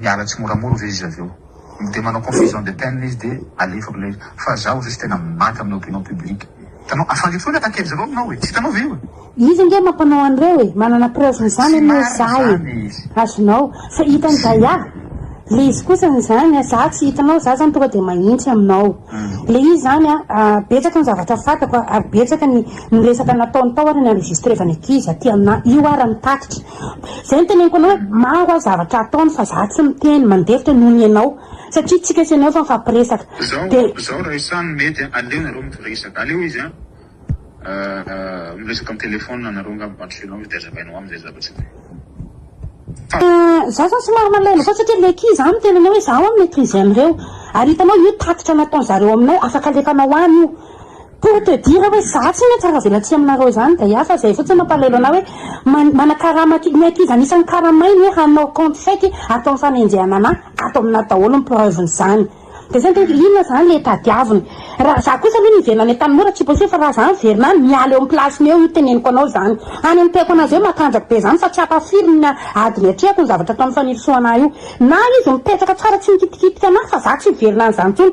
Miala tsimoramora ve izy avy eo? Dia manao confession de peine izy dia alefako ilay izy. Fa zaho zao tsy tena maty amin'ny opinion publique. Hitanao, afa lefy foana attaque-n'izy ireo aminao e! Tsy hitanao ve io e? Izy ange mampanao an'ireo e! Manana preuve-n'izany anie za e! Azonao. Fa hitan'i Daya, ilay izy kosa an'izany an, za tsy hitanao, za zany tonga dia mahintsy aminao. Ilay izy izany an, betsaka ny zavatra fantako ary betsaka ny resaka nataony tao ary ny enregistrevany ankizy aty aminà. Io ara ny tatitra. Izay no teneniko anao hoe maro aho zavatra ataony fa za tsy miteny mandefitra noho ny anao satria tsika sy anao efa mifampiresaka de. Zao raha isany mety an, aleo nareo mifresaka, aleo izy an miresaka am telephone anareo ngamba mba ampisehoanao izy de azavainao aminy zay zava tsy mety fa. Za zany somary malaelo foana satria le ki za miteny anao hoe zaho an mi-maitriser an'ireo ary hitanao io tatitra nataon'zareo aminao afaka alefanao any io. Pour te dire hoe za tsy maintsy aravelatsihy aminareo izany dia hafa, izay fotsiny mampalahelo anah hoe manakarama aty, ny ankizy anisany karamainy hoe hanao compte fake ataony fanenjehana anah, ato aminah daholo ny preuve n'izany, dia izay dia hoe inona izany le tadiaviny, raha za kosa aloha niverina any Antanimora tsy possible fa raha za miverina any miala eo amin'ny place-ny eo io teneniko anao izany any notehako anazy hoe matanjaka be izany fa tsy hapa firy ny ady niatrehako ny zavatra ataon'i Fanirisoa anah io na izy mipetraka tsara tsy mikitikitika anah fa za tsy hiverina any izany intsony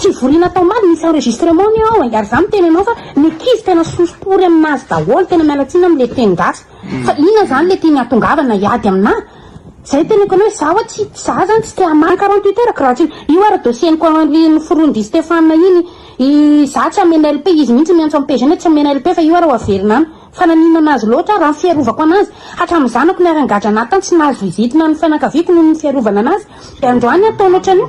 Fivoriana atao omaly misy enregistrement ny ao e, ary za miteny anao fa ny ankizy tena soso pory aminazy daholo, tena miala tsiny amle teny gasy fa inona zany le tiany hatongavana hiady amina? zay teneniko anao hoe za oa tsy za zany tsy te hamaly quarante huit heures ko raha tsy io ara dossier niko ary noforoin dry Stephane iny i za tsy hamena LP izy mihitsy miantso am pejiny hoe tsy hamena LP fa io ara ho averina any fa naninona azy loatra raha ny fiarovako anazy hatram zanako niara nigadra anatiny tsy nahazo vizitina ny fianakaviako noho ny fiarovana anazy de androany ataony otranio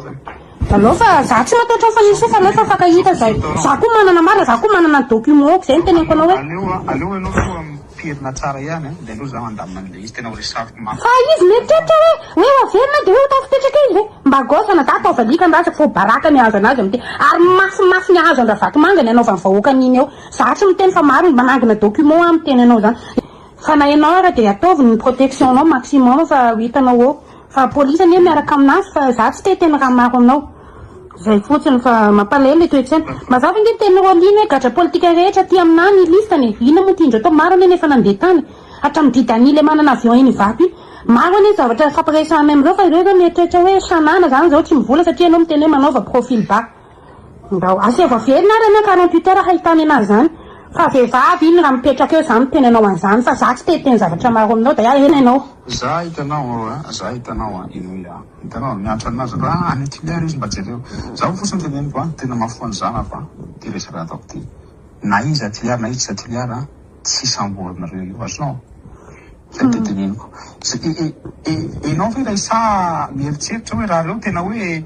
Alou fa za tsy mataotra ny fanirisoa fa alou fa fankahita zay za koa manana marina za koa manana ny documents zay ny teneniko anao hoe aleo aleo ianao foa miterina tsara ihany an de aleo za mandamina an'ilay izy tena ho resafiko mafy fa izy mieritreritra hoe hoe ho averina de hoe ho tafipetraka izy ve mba gosse ana za taova alika andrasako fa ho baraka ny hahazo anazy amin'ity ary mafy mafy ny hahazo andravatomanga ny anaovan'ny vahoaka an'iny eo za tsy miteny fa maro ny manangona documents aho miteny anao zany fa na ianao ara de ataovy ny protection nao maximum fa ho hitanao eo Fa police anie miaraka aminazy fa za tsy te teny raha maro aminao. Zay fotsiny fa mampalahelo le toetsaina. Mazava ange ny tenin'i Roaline hoe gadra politika rehetra aty aminà ny listany e. Inona moa ty indreo tao maro anie nefa nandeha tany. Hatramin'ny Didani le manana avion eny Ivato iny. Maro anie zavatra fampiresahanay amin'ireo fa ireo zao mieritreritra hoe sanana zany zao tsy mivola satria ianao miteny hoe manaova profil bas. Ndao asaivo averina ary anao karompitera hahitana enazy izany fa vehivavy iny raha mipetraka eo za miteny anao an'izany fa za tsy te hiteny zavatra maro aminao dia ahena ianao. Za hitanao a, za hitanao a, henoy a, hitanao miantra an'azy ra any Hitler izy mba jereo, zaho fotsiny teneniko a, tena mahafoy an'i zanako a, ty resaka ataoko ty, na izy Hitler na izy tsy Hitler a, tsy samborinareo io azonao? zay te teneniko, ze e e e enao ve ilay saha mieritreritra hoe raha reo tena hoe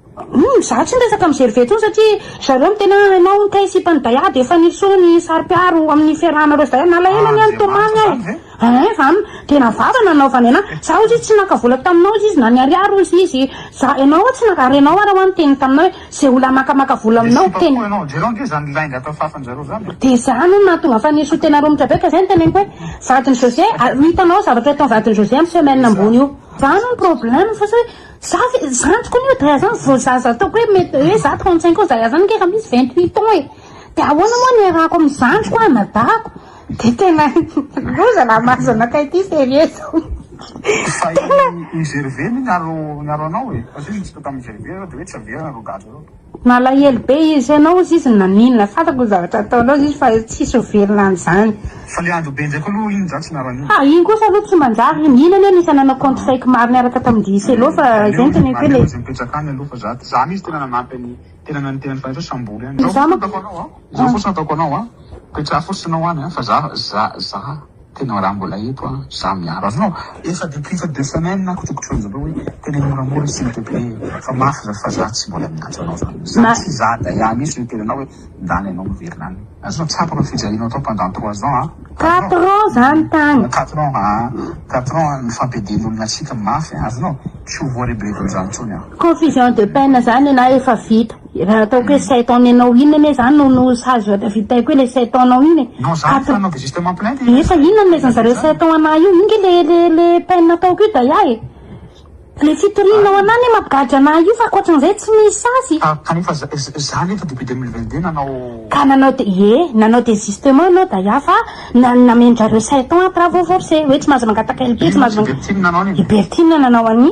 Humm za tsy miresaka am zerve tsony satria zareo no tena hainao hono kay sipa ny daiha de efa nirosoa ny sary mpiaro amin ny fiarahan areo daiha nalahelo anie ny tomany eh eeh fa an tena vava nanaovany anah za ozy izy tsy naka vola taminao ozy izy na ny ariary ozy izy za enao oa tsy naka ary enao ara oa niteny taminao hoe ze olona maka maka vola aminao tena de za no nahatonga fa nirosoa tena romotra be ka zay no teneniko hoe vadiny jose ary ho hitanao zavatra ho ataony vadiny jose am semaine ambony io zany no probleme fa sa hoe. Za ve, zandriko anie hoe Zaya zany vao zaza ataoko hoe mety hoe za 35 ans Zaya zany nge efa misy 28 ans e! de ahoana moa no iarahako amin'ny zandriko an, na dago? de tena loza lahy mahazo anakay ity serie zao. Fa i Gervais ny niaro niaro anao e, fa zay ny hitsika tamin'i Gervais zao de hoe tsy averina reo gadra reo. Nalahelo be izy, ianao ozy izy naninona, fantako ny zavatra ataonao ozy izy fa tsisy ho velona an'izany. Fa le ady ho be ndraiky aloha iny zany tsy naraniana. Fa iny kosa aloha tsy manjary iny, iny anie anisany nanao compte fake maro niaraka tamin'i Dicello fa izay no tena eko hoe le. Aleo izy mipetraka any aloha fa za ty, za mihintsy tena nanampy an'i tena nanintena ny fanatro sambory any, zao fotsiny ataoko anao an, zao fotsiny ataoko anao an, petraha fotsiny anao any an, fa za, za, za. Tena raha mbola eto an, za miaro azy non efa depuis fa deux semaines aho kotrokotroiny zareo hoe teneno moramora s'il te plait e fa mafy za fa za tsy mbola miantso anao zany zany tsy za daia mihintsy no hiteny anao hoe ndany anao miverina any azonao tsapako ny fijalianao tao pendant trois ans an Quatre ans zany tany. Quatre ans aa quatre ans ny fampiadian'olona antsika mafy an azonao tsy ho voarebireby amzany tsony an. Confusion de peine zany na efa vita. Efa ataoko hoe sept ans nenao inona ne zany no no sazy oe tavitaiko hoe le sept ans nao iny e. Non za efa anaovy justement plainte e. Nefa inona no nomezany zareo sept ans anah io inge le le le peine ataoko io daya e. Le fitorianao anah ne mampigadra anah io fa akoatran'izay tsy misy sazy. Ka kanefa za za anefa depuis deux mille vingt deux nanao. Ka nanao de ie nanao desistement enao daya fa na namen-dRareo sept ans à travaux forcés oe tsy mahazo mangataka LP tsy mahazo mangataka. I Bertine nanao an'i.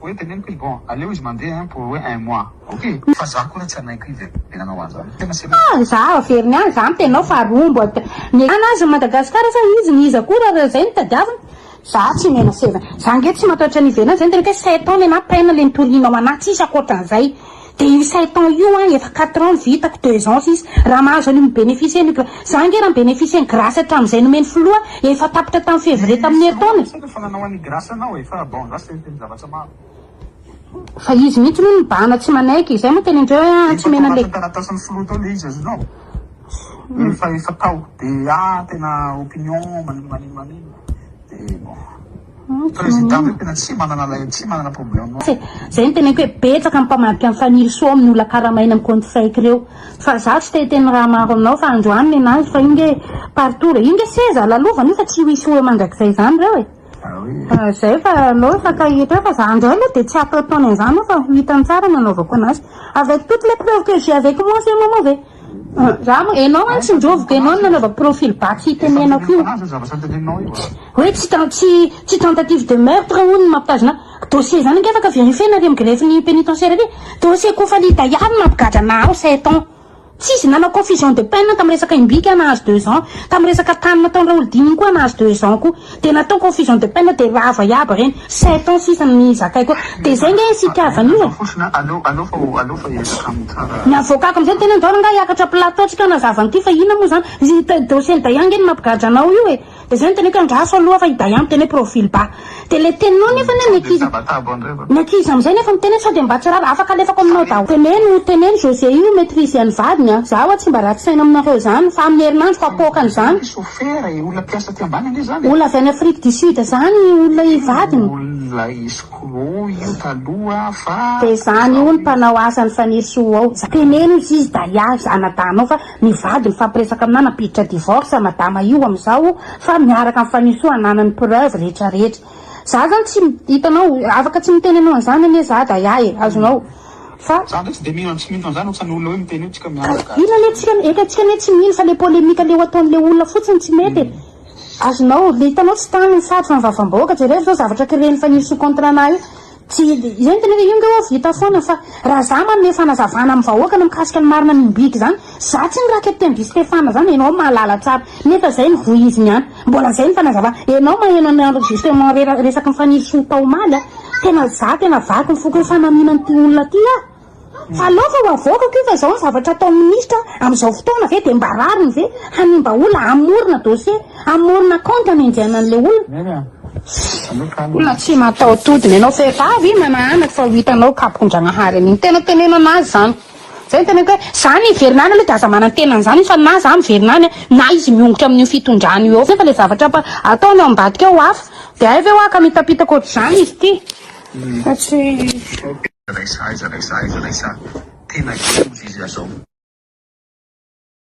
Hoe teneniko izy bon aleo izy mandeha hein pour hoe un mois ok. Fa za koa ra tsy hanaiky izy eh de nanao anzany fa tena serieux. Ah za averiny any za mitenao fa rombo at ny an azy ny Madagascar sa izy ny iza koa ra zay no tadiaviny za tsy omena seza za nge tsy mataotra ny ivelany zay ny teneniko hoe sept ans le na peine le nitorianao anahy tsisy akoatranzay. Dia io sept ans io an, efa quatre ans no vitako, deux ans sisa, raha mahazo an'io mi-beneficier an'io ka. Za ange raha mi-beneficier ny grace hatramin'izay nomen'ny filoha, efa tapitra tamin'ny février tamin'ny herintaona e. Fa izy mihitsy no nibahana tsy manaiky, izay moa tena indreo hoe tsy omena an'ilay. Président ve tena tsy manana lay tsy manana problème non. Zay no teneniko hoe betsaka ny mpamadika an'i Fanirisoa ao amin'ny olona karamaina amin'ny compte fake reo. Fa zaho tsy te hiteny raha maro aminao fa androany nenazy fa io nge partout re. Io nge seza lalovana io fa tsy hisy ho eo mandrakizay izany reo e. Ah zay fa anao efa tahiry eo fa za ndray aloha de tsy hataotaona izany io fa ho hitany tsara ny anaovako anazy. Avec toutes les preuves que j'ai avec moi ce moment ve. Rama, enao an tsy ndrovo ka enao no nanaova profil back hitenenako io hoe tsy tsy tsy tentative de meurtre hono ny mampitazona ahy, dossier zany ange afaka verifiena ary am grefy ny penitentiaire ary dossier kofalita ihany mampigadra ana aho sept ans tsisy nanao confusion de peine tam resaka imbika aho nahazo deux ans tam resaka tany nataony raolodina iny koa aho nahazo deux ans koa. Dia natao confusion de peine dia rava iaby reny. Sept ans sisa no nizakay koa. Dia zay nge sy itiavany io e. Ny avocako amizay tena ndao rangahy hiakatra plateau tsy mpanazava an'ity fa inona moa zany. Ny dossier ny Dayan nge no mampigadra anao io e. Dia zay no teneniko hoe andraso aloha fa i Dayan miteny hoe profil bas. Dia le teninao nefa ny ankizy ny ankizy amizay nefa miteny hoe sao dia mba tsy rava. Afaka alefako aminao daholo. Teneno teneno José io ho maitrise an'ny vadiny a. Zaho tsy mba ratsy saina aminareo zany fa amin'ny herinandro fa poakany zany. Ferre e, olona mpiasa aty ambany ange zany e. Olona avy any Afrique du Sud zany olona hivadina. Io olona escroc io taloha fa. Dia izany io ny mpanao asan'i Faniry sy ho ao. Teneno izy izy Dahlia izy anadahinao fa mivady mifampiresaka aminà nampiditra divorce madama io amizao fa miaraka amin'i Fanirisoa ananany preuve rehetra rehetra. Za zany tsy hitanao afaka tsy miteny anao an'izany anie za Dahlia e azonao Fa za ndray tsy de mino an'tsy mino an'zany otsan'ny olona hoe miteny hoe tsika miandry gasy. Ino anie tsika eka tsika anie tsy mino fa le polemique leo ataon'le olona fotsiny tsy mety e. Azonao, le hitanao tsy tany ny sary fa ny vavambahoaka, jereo zao zavatra créer-n'i Fanilo sy contrat-na io. Tsy, io ny teneniko io ngeh oa vita foana fa raha za manome fanazavana amin'ny vahoaka ny mikasika ny marina mimbiky zany, Za tsy ny ra capitaine Guy Stephane zany enao mahalala tsara nefa zay ny vohiziny an! Mbola zay ny fanazavana! Enao maheno ny enregistrement rera resaky ny fanirisoa tao omaly an! Tena za tena vaky ny foko hoe fanamiana an'ity olona ty ah! Fa aleo fa ho avoakako io fa zao ny zavatra ataon'ny ministra amizao fotoana ve de mba rariny ve hanimba olona hamorona dossier hamorona compte hanenjehana anle olona olona tsy mataho-todiny enao vehivavy manahanaky fa ho hitanao kapondragnahary an'iny tena tenenana azy zany Zay ny teneniko hoe za ny hiverina any aloha de aza manantena an'izany izy fa na za miverina any a, na izy miongotra amin'io fitondrana io ao foana fa le zavatra ampa- ataony ao ambadika ao hafa. De hay ve hoa ka mitapitaka ohatr'izany izy ity fa tsy. Aiza lay saha aiza lay saha aiza lay saha tena kivy izy azao.